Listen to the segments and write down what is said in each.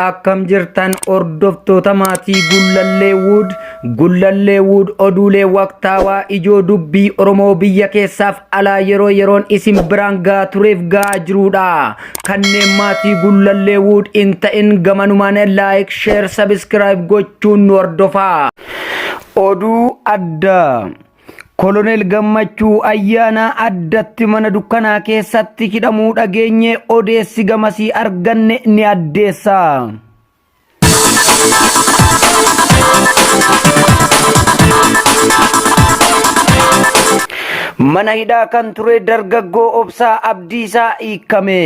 akkam jirtan hordoftoota maatii gullallee wuud gullallee wuud oduulee waqtaawaa ijoo dubbii oromoo biyya keessaaf alaa yeroo yeroon isin biraan gahaa tureef gahaa jiruudha kanneen maatii gullallee wuud hin ta'in gamanumaan laayik sheer sabiskiraayib gochuun nu hordofaa oduu addaa Koloneel Gammachuu ayyaanaa addatti mana dukkanaa keessatti hidhamuu dhageenye odeessi gamasii arganne ni addeessa. Mana hidhaa kan ture dargaggoo obsaa abdiisaa hiikkame.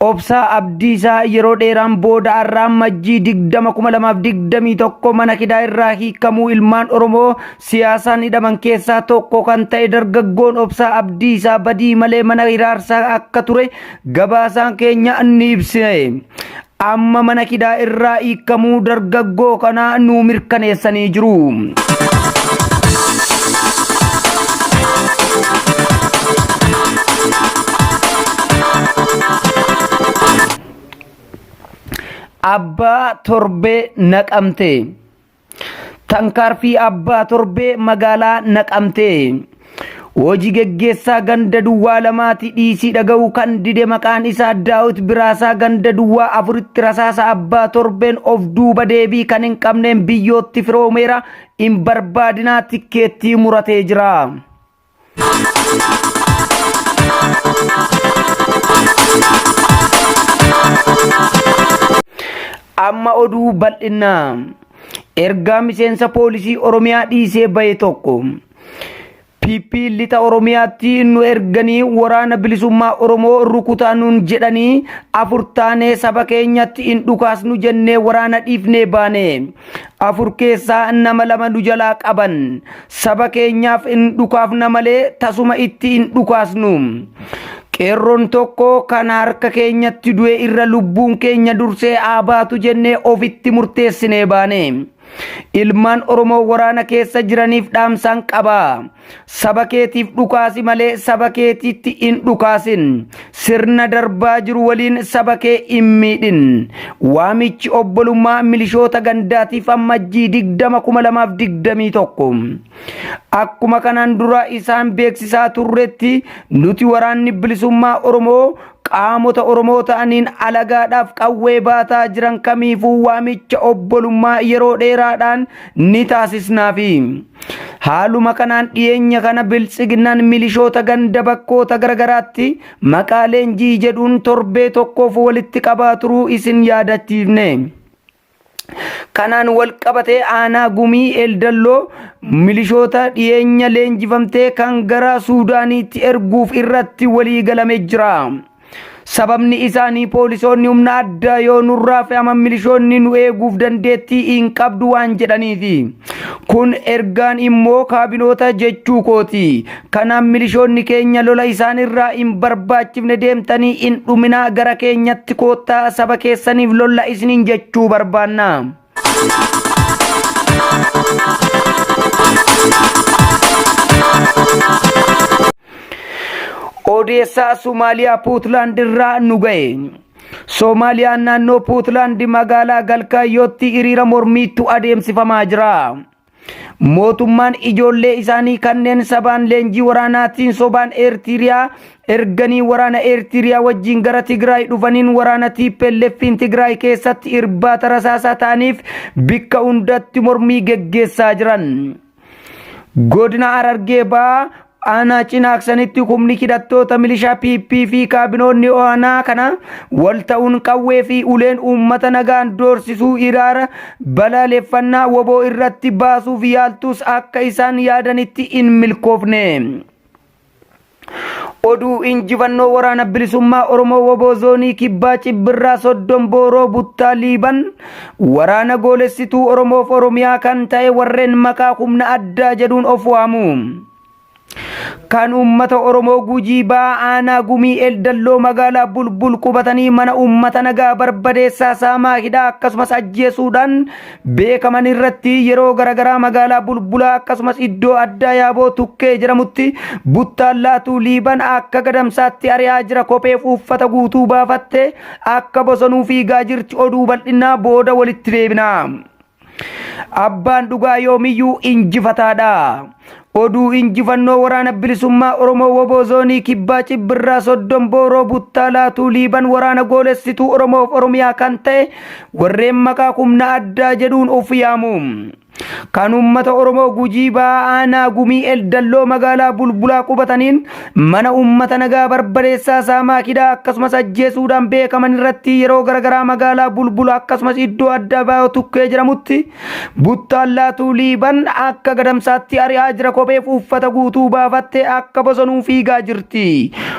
Obsaa Abdiisaa yeroo dheeraan booda har'aa majjii 20,2021 mana hidhaa irraa hiikamuu ilmaan Oromoo siyaasaan hidhaman keessaa tokko kan ta'e dargaggoon Obsaa Abdiisaa badii malee mana hiraarsaa akka ture gabaasaan keenya ni ibsine. Amma mana kidaa irraa hiikamuu dargaggoo kanaa nuu mirkaneessanii jiru. Abbaa torbee naqamtee. Tankaarfii Abbaa Torbee magaalaa Naqamtee. Hojii geggeessaa ganda duwwaa lamaati dhiisii dhaga'uu kan dide maqaan isaa Daawit Biraasaa ganda duwwaa afuritti rasaasa abbaa torbeen of duuba deebii kan hin qabneen biyyootti firoomeera hin barbaadinaa tikkeettii muratee jira. Amma oduu bal'inaa ergaa miseensa poolisii Oromiyaa dhiisee bahe tokko PP lixa Oromiyaatti nu erganii waraana bilisummaa Oromoo rukutaa nuun jedhanii afur taanee saba keenyatti hin dhukaasnu jennee waraana dhiifnee baane. Afur keessaa nama lama nu jalaa qaban. Saba keenyaaf in dhukaafna malee tasuma itti in dhukaasnu. Qeerroon tokko kan harka keenyatti du'e irra lubbuun keenya dursee haa baatu jennee ofitti murteessinee baane. Ilmaan Oromoo waraana keessa jiraniif dhaamsaan qaba. Saba keetiif dhukaasi malee saba keetiitti in dhukaasin. Sirna darbaa jiru waliin saba kee hin miidhin. Waamichi obbolummaa milishoota gandaatiif ammajjii 20,2021. Akkuma kanaan dura isaan beeksisaa turretti nuti waraanni bilisummaa Oromoo qaamota Oromoo ta'aniin alagaadhaaf qawwee baataa jiran kamiifuu waamicha obbolummaa yeroo dheeraadhaan ni taasisnaafi. Haaluma kanaan dhiyeenya kana biltsiginnaan milishoota ganda bakkoota garagaraatti maqaa leenjii jedhuun torbee tokkoof walitti qabaa turuu isin yaadachiifne. Kanaan wal qabatee aanaa gumii eldalloo milishoota dhiyeenya leenjifamtee kan gara Suudaaniitti erguuf irratti walii galame jira. Sababni isaanii poolisoonni humna addaa yoo nurraa fe'aman milishoonni nu eeguuf dandeettii hin qabdu waan jedhaniifi. Kun ergaan immoo kaabinoota jechuu kooti. Kanaaf milishoonni keenya lola isaan irraa hin barbaachifne deemtanii hin dhuminaa gara keenyatti koottaa saba keessaniif lolla isiniin jechuu barbaanna. Odeessaa Somaaliyaa Puutlaand irraa nu ga'e. Soomaaliyaan naannoo Puutlaand magaalaa Galkaayootti hiriira mormiitu adeemsifamaa jira. Mootummaan ijoollee isaanii kanneen sabaan leenjii waraanaatiin sobaan Eertiriyaa erganii waraana Eertiriyaa wajjin gara Tigraay dhufaniin waraana TPLFiin Tigraay keessatti irbaata rasaasaa ta'aniif bikka hundatti mormii geggeessaa jiran. Godina Harargee Bahaa Aanaa cinaaksanitti humni hidhattoota milishaa PP fi kaabinoonni aanaa kana wal ta'uun qawwee fi uleen uummata nagaan doorsisuu iraara balaaleffannaa woboo irratti baasuuf yaaltus akka isaan yaadanitti hin milkoofne. Oduu injifannoo waraana bilisummaa Oromoo woboo zoonii kibbaa cibbirraa soddon booroo buttaa liiban Waraana goolessituu Oromoof Oromiyaa kan ta'e warreen maqaa humna addaa jedhuun of waamu. Kan uummata Oromoo Gujii Ba'aa Aanaa Gumii Eldalloo magaalaa Bulbul qubatanii mana uummata nagaa barbadeessaa saamaa hidhaa akkasumas ajjeesuudhaan beekaman irratti yeroo garaagaraa magaalaa Bulbulaa akkasumas iddoo addaa Yaaboo Tukkee jedhamutti buttaan laatuu Liiban akka gadamsaatti ari'aa jira kopheef uffata guutuu baafatte Akka bosonuu fiigaa jirti oduu bal'innaa booda walitti deebina. Abbaan dhugaa yoomiyyuu injifataadha. Oduu injifannoo waraana bilisummaa Oromoo Woboo Zoonii Kibbaa Cibbirraa Soddon Booroo Buttaa Laatuu Liiban waraana goolessituu Oromoof Oromiyaa kan ta'e warreen maqaa humna addaa jedhuun of yaamu. Kan uummata Oromoo Gujii Ba'aa Aanaa Gumii Eldalloo magaalaa Bulbulaa qubataniin mana uummata nagaa barbadeessaa saamaa kidhaa akkasumas ajjeesuudhaan beekaman irratti yeroo garagaraa magaalaa Bulbula akkasumas iddoo adda baayoo tukkee jedhamutti buttaan laatuu liiban akka gadamsaatti ari'aa jira kopheef uffata guutuu baafattee akka bosonuu fiigaa jirti.